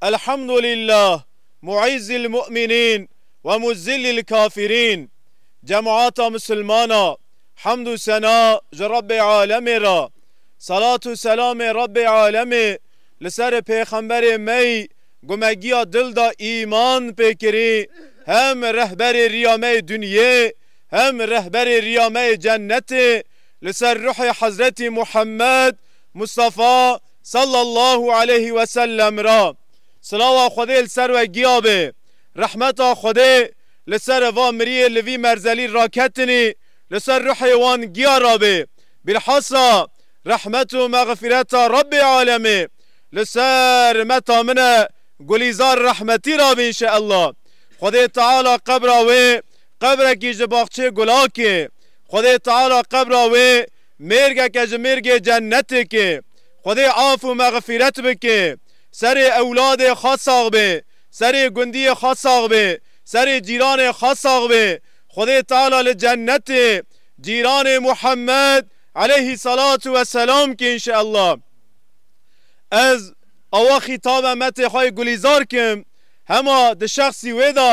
Elhamdulillah mu'izzil mu'minin ve muzillil kafirin Cemata misilmana hemd û sena ji Rebbê alemê re Selat û selamê Rebbê alemê li ser pêxemberê mey gumegiya dil da îman pê kirî hem rehberê riya me yê dunyê hem rehberê riya me yê cennetê li ser ruhê hezretî Muhammed Mustafa Sallallahu aleyhi ve sellem ra silawa Xwedê li ser we giya be, rehmeta Xwedê li ser va miriyê li vî merzelî raketinî li ser ruhê wan giya rabe, bîlhasa rehmet û mexfireta Rabbê alemê li ser meta min e gulîzar rehmetî rabe înşeellah. Xwedê Teala qebra wê qebrekî ji baxçê gulakê, Xwedê Teala qebra wê Mêrgeke ji mêrgê cennetê ke Xwedê af û mexfîret bike serê ewladê xwe sax be, serê gundiyê xwe sax be, serê cîranê xwe sax be. Xwedê Teala li cennetê cîranê Muhammed eleyhî selatû we selam ke înşeellah. Ez awa xîtabe metê xwe yê gulîzar kim, hema di şexsî wê de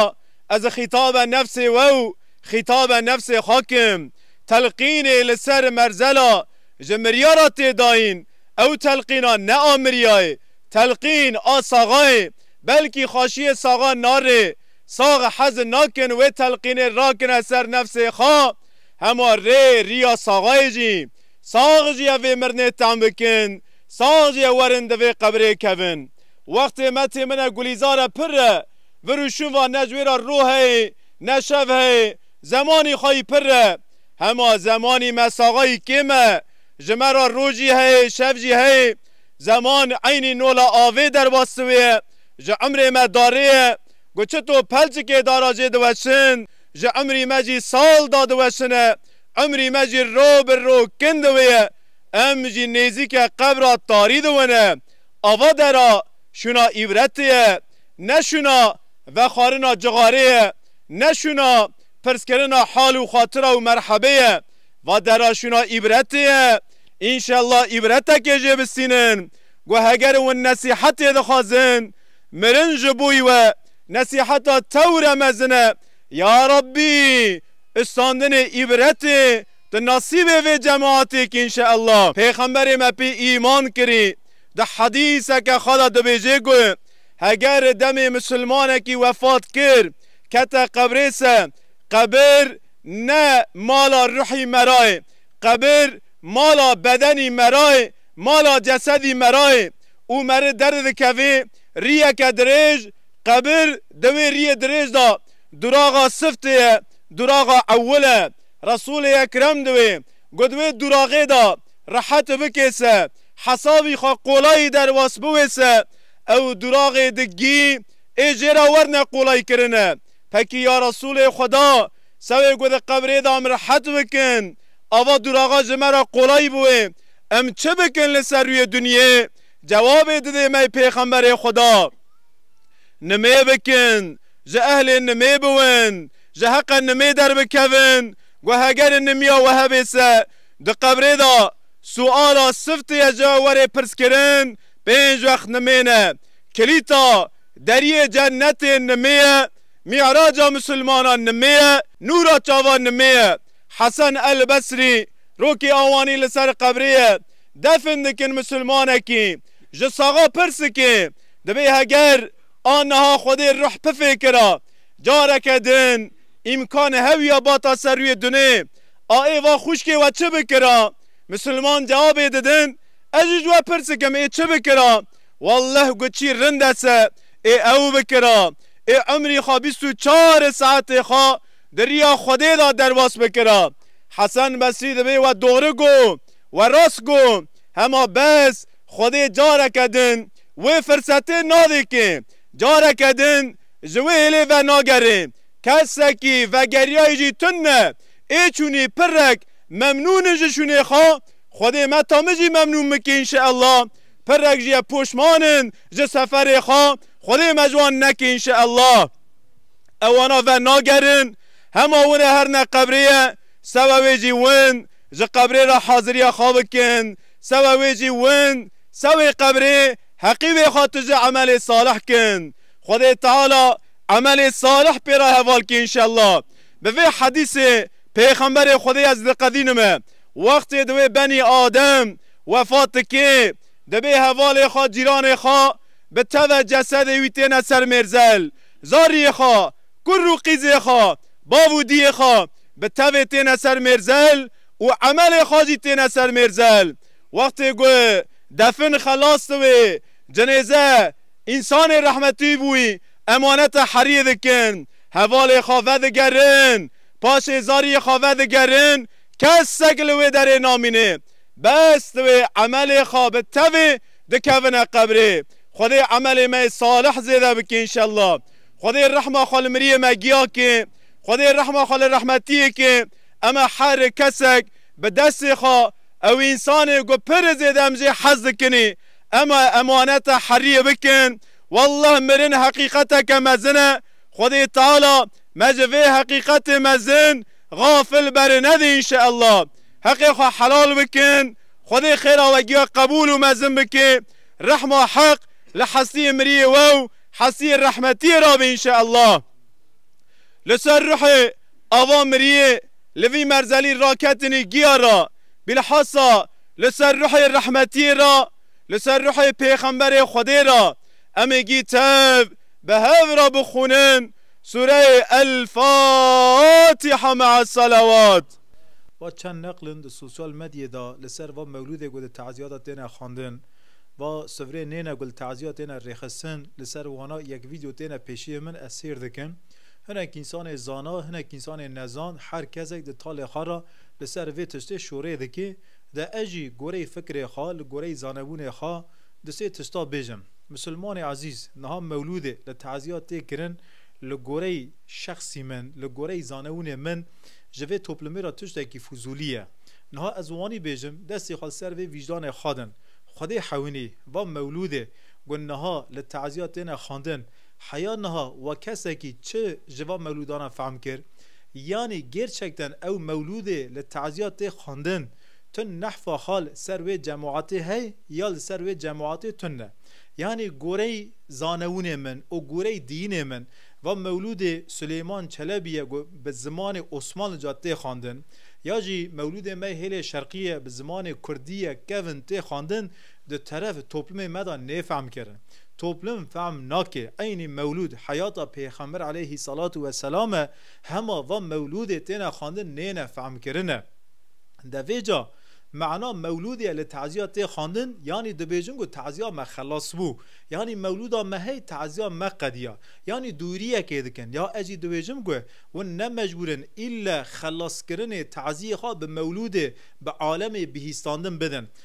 ez xîtabe nefsê we û xîtabe nefsê xwe kim. telqînê li ser merzela ji miryara tê dayîn, ew telqîna ne a miryayê, telqîn a saxayê, belkî xaşiyê saxa narê, sax hez nakin wê telqînê rakine ser nefsê xa, hema rê riya saxayê jî, sax jî evê mirnê tem bikin, sax jî werin di vê qebirê kevin. Wextê me tê min e gulîzar e pirr e, vir û şûn va ne ji wê ra rû heye ne şev heye, Zemanî xwe yî pirr e. Hema zemanî me saxa yî kêm e. Ji me re roj jî heyê, şev jî heyê. Zeman eynî nola avê derbas siwê ye. Ji emrê me darê ye. Ku çito pelçikê dara jê diweşin, ji emrî me jî sal da diweşine. Emrî me jî ro bi ro kin diwê ye. Em jî nêzîke qebra tarî diwine. Ava dera şûna îbretê ye. ne şûna vexwarina cixarê ye, ne şûna pirskirina hal û xatira û merhebê ye. Va dera şûna îbretê ye. Înşella îbretekê jê bistînin ku heger hûn nesîhetê dixwazin, mirin ji bo wî we nesîheta tewre mezin e. Ya Rabbî istandinê îbretê tu nesîbê vê cemaatê kî înşella. Pêxemberê me pê îman kirî. Di hedîseke xwe de dibêje ku heger demê misilmanekî wefat kir, kete qebrê se, qebir ne mala ruhî me ra ye, qebir mala bedenî me ra ye, mala cesedî me ra ye û meri derdidikevê riyeke dirêj, qebir di wê riyê dirêj de duraxa siftê ye, duraxa ewil e. Resûlê Ekrem di wê got wê duraxê de rehet bikêse. hesabî xwe qolayî derwas biwêse ew duraxê digî ê jê re werne qolay kirine. Pekî ya Resûlê Xweda sewê ku di qebrê de em rehet bikin ava duraxa ji me re qolay biwê em çi bikin li ser rûyê dinyê cewabê didê me Pêxemberê Xweda nimê bikin ji ehlê nimê biwin ji heqe nimê derbikevin guhegerin nimiya we hebê se di qebrê de Suala siftê ye ji werê pirskirin pênc wext nimên e. Kilîta deriyê cennetê nimê ye, mî'raca misilmanan nimê ye, nûra çavan nimê ye. Hesen El Besrî rokê awanî li ser qebrê ye, defn dikin misilmanekî. Ji saxa pirsikê dibê heger a niha Xwedê ruh pifê kira. Careke din îmkan hewiya bata ser rûyê dunê. Aê va xwişkê we çi bikira? Misilman cewabê didin, Ez jî ji we pirsikim ê çi bikira? Welleh gu çî rind ese ê ew bikira. Ê umrî xwe bîst û çar e saetê xwe di riya Xwedê de derbas bikira. Hesen Besrî divê we dori gu, we rast gu. Hema bes Xwedê careke din wê firsetê nadê kê. Careke din ji wê hêlê venagerê. Kesekî vegeriyayî jî tune. Ê çûnî pirrek memnûn in ji şûnê xwe, Xwedê me ta min jî memnûn bike înşeellah. Pirrek jî ye poşman in ji seferê xwe, Xwedê me ji wan neke înşeellah. Ewana ver nagerin, hema win e her ne qebrê ye, sewe wê jî win ji qebrê re haziriya xwe bikin, sewe wê jî win sewê qebrê heqî wê xwe tije emelê salih kin. Xwedê Teala emelê salih pê re heval ke înşeellah. Bi vê hedîsê Pêxemberê Xwedê ez diqedînim e, wextê di wê benî Adem wefat dikê, dibê hevalê xwe, cîranê xwe bi teve cesedê wî têne ser mêrzel, zariyê xwe, kur û qîzê xwe, bav û diyê xwe bi tevê têne ser mêrzel û emelê xwe jî têne ser mêrzel. Wextê ku defin xelas di wê cinêze însanê rehmetî bûyî, Emaneta heriyê dikin, hevalê xwe vedigerin, paşê zariyê xwe vedigerin, kesek li wê derê namînê. Bes divê emelê xwe bi tevê dikevine qebrê. Xwedê emelê me yê salih zêde bike înşella. Xwedê rehma xwe li miriyê me giya ke. Xwedê rehma xwe li rehmetiyê ke. Em e her kesek bi destê xwe ew însanê ku pir zêde em jê hez dikinê. Em e emaneta heriyê bikin. Wallah mirin heqîqeteke mezin e, Xwedê Teala me ji vê heqîqetê mezin gafil beri nede înşeellah. Heqê xwe helal bikin, Xwedê xêra we giya qebûl û mezin bike, rehma Heq li hestiyê miriyê we û hestiyê rehmetiyê re be înşeellah. Li ser ruhê ava miriyê li vî merzelî raketinî giya re, bîlhasa li ser ruhê rehmetiyê re, Li ser ruhê Pêxemberê Xwedê re em ê gî tev bi hev re bixwînin Sûreyê El Fatiha me'a Selewat. Va çend neqlên di sosyal medyê de li ser va mewlûdê ku di tezîya de têne xwendin, va sivrê nêne ku li tezîya têne rêxistin, li ser wana yek vîdyo têne pêşiyên min ez sêr dikim. Hinek însanê zana, hinek însanê nezan, her kesek di talê xwe re li ser vê tiştê şorê dike. De ez jî goreyê fikrê xwe, li goreyê zanebûnê xwe di sê tişta bêjim. Misilmanê ezîz, niha mewlûdê li teziya tê kirin, li goreyê şexsî min, li goreyê zanebûnê min ji vê toplumê re tiştekî fuzûlî ye. Niha ez wanî bêjim, destê xwe li ser vê vîcdanê xwe din. Xwedê hewînî, va mewlûdê ku niha li teziya têne xwendin, Heya niha wa kesekî çi ji van mewlûdanan fehm kir? Yanî gêrçekten ew mewlûdê li teziya tê xwendin? Tu nehfa xwe li ser wê cemaetê hey ya li ser wê cemaetê tu ne? Yanî goreyî zanewinê min û goreyî diyînê min van mewlûdê Silêman Çelebî ye ku bi zimanê Osmanlica tê xwendin ya jî mewlûdê me hêlê şerqî ye bi zimanê kurdî ye kevn tê xwendin di teref toplumê me de nêfehmkirin. Toplum fehm nake eynî mewlûd heyata pêxember eleyhî selatu we selam e, hema van mewlûdê têne xwendin nêne fehmkirine. De vê ca mana mewlûdê li teziya tê xwendin yanî dibêjin ku teziya me xelas bû, yanî mewlûda me hey teziya me qediya, yanî dûriyekê dikin ya ez jî dibêjim ku hûn ne mecbûr in îlle xelaskirinê teziyê xwe bi mewlûdê, bi alemê bihîstandin bidin.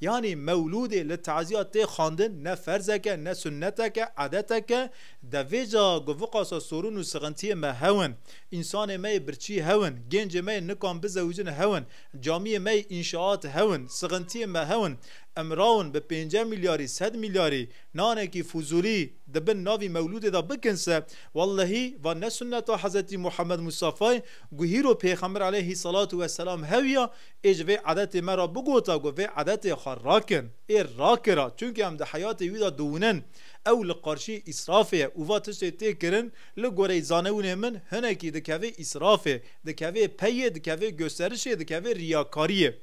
Yanî mewlûdê li taziya tê xwendin ne ferzek e, ne sunnetek e, edetek e. Di vê ca goviqasa sorûn û sixintiyê me hew in. Însanê me yê birçî hew in. Gêncê me yê nikan bizewicin hew in. Camiyê me yê înşaat hew in. Sixintiyê me hew in. Em rawin bi pênce milyarî, sed milyarî, nanekî fuzûlî di bin navî mewlûdê de bikin se. Wellehî van ne sunneta Hezretî Muhammed Mustafayê ku hîro pêxember aleyhî selatû weselam hew ya, Ê ji vê edetê me re bigota ku vê edetê xwe rakin. Ê rakira çunke em di heyatê wî de diwinin. Ew li qarşiyê îsrafê ye û va tiştê tê kirin li goreyî zanewinê min hinekî dikeve îsrafê, dikeve peyê, dikeve gusterişê, dikeve riyakariyê.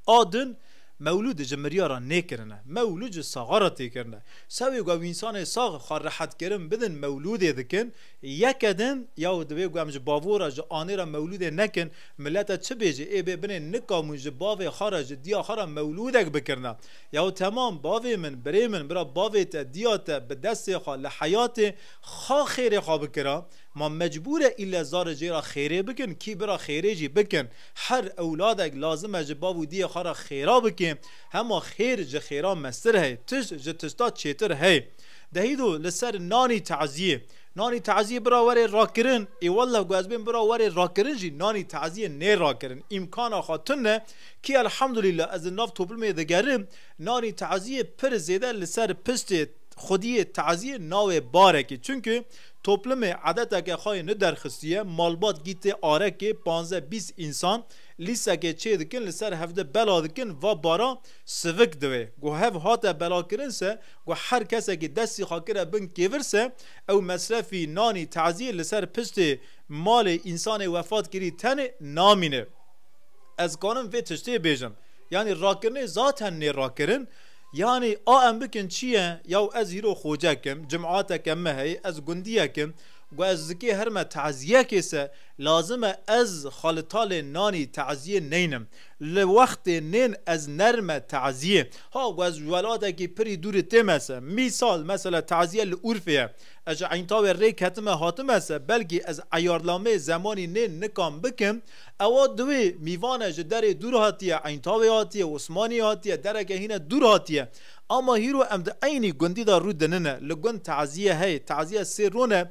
A din mewlûd ji miriya re nêkirine. Mewlûd ji saxa re tê kirine. Sewê ku ew însanê sax xwe rehetkirin bidin mewlûdê dikin. Yeke din ya divê ku em ji bavor re, ji anê re mewlûdê nekin. Milete çi bêje ê bê binê nika mû ji bavê xwe re ji diya xwe re mewlûdek bikirina. Yaw temam bavê min, birê min, bira bavê te, diya te, bi destê xwe, li heyatê xa xêrê xwe bikira. Ma mecbûr e îlle zarê jê re xêrê bikin, kî bira xêrê jî bikin. Her ewladek lazim e ji bav û diyê xwe re xêra bikê. Hema xêr ji xêra mestir hey, tişt ji tişta çêtir hey. Dehî do li ser nanî teziyê. Nanî taziyê bira were rakirin. Ê welleh ku ez bên bira were rakirin jî nanî taziyê nêrakirin. Îmkana xwe tune ye. Kî elhamdulîllah ez li nav toplumê digerim nanî taziyê pir zêde li ser piştê xwediyê taziyê nawe barekê. Çimkî toplumê edeteke xwe yê niderxistiye. Malbat gîtê arekê panze bîst însan lîsekê çê dikin li ser hevde bela dikin va bara sivik divê. Ku hev hate belakirin se ku her kesekî destê xwe kire bin kêvirse, ew mesrefî nanî taziyê li ser piştê malê însanê wefatkirî tenê namîne. Ez kanim vê tiştê bêjim. Yanî rakirinê zaten nê rakirin. Yanî a em bikin çi ye? Yaw ez îro xocek im, cimateke me heye, ez gundiyek im. Ku ez zikê herime taziyekê se, lazim e ez xalitalê nanî taziyê neynim. Li wextê nên ez nerme taziyê. Ha wez welatekî pirî dûrî tê me se. Mîsal mesela taziye li Urfê ye. Ez ji Eintawê rê ketime hatime se, belkî ez eyarnameyê zemanî nê nikan bikim. Ewa diwê mîvane ji derê dûr hatiye, Eintawê hatiye, Osmaniyê hatiye, dereke hîne dûr hatiye. Ama hîro em di eynî gundî de rû dinine. Li gund taziye heye. Taziye sê rone.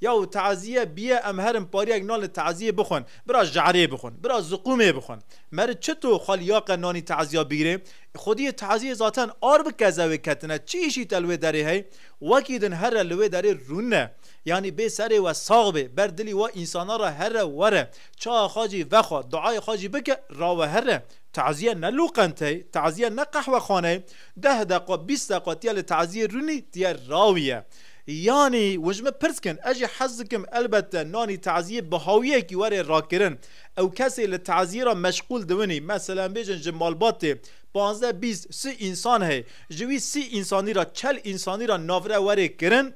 Ya û teaziye biye em herin pariyek nan li teaziyê bixwin. Bira je'rê bixwin. Bira ziqûmê bixwin. Meri çi to xwe li ya qe nanî teaziya bigirê? Xwediyê teaziyê zaten ar bi kezewê ketine. Çi îşî te li wê derê hey? Wekî din herre li wê derê rûne. Yanî bê serê we sax bê. Ber dilî we însanan re herre were. Çawa xwe jî vexwe. Duayê xwe jî bike. Rawe herre. Teaziye ne lûqent hey. Teaziye ne qehwexane ye. Deh deqe, bîst deqe tu ya li teaziyê rûnî, tu ya rawî ye. Yanî hûn ji min pirs dikin, ez jî hez dikim elbette nanî taziyê bi hawiyekî were rakirin. Ew kesê li taziyê re meşxûl dibinî. Meselem bêjin ji malbatê pazdeh bîst sî însan heye. Ji wî sî însanî re çel însanî re navre were kirin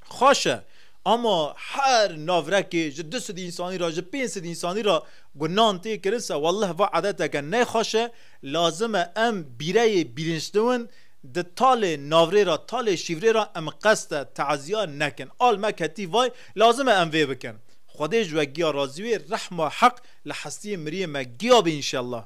xweş e. Ama her navrekê ji du sîd însanî re ji pênc sîd însanî re ku nan tê kirin se welleh va edeteke nexweş e. Lazim e em bîreyê bîrinçdiwin Di talê navrê ra, talê şîvrê ra em qest e teezîya nekin. Al me ketî vay, lazim e em vê bikin. Xwedê ji we giya razî wê, rehma Heq li hestiyê miriyê me giya be înşellah.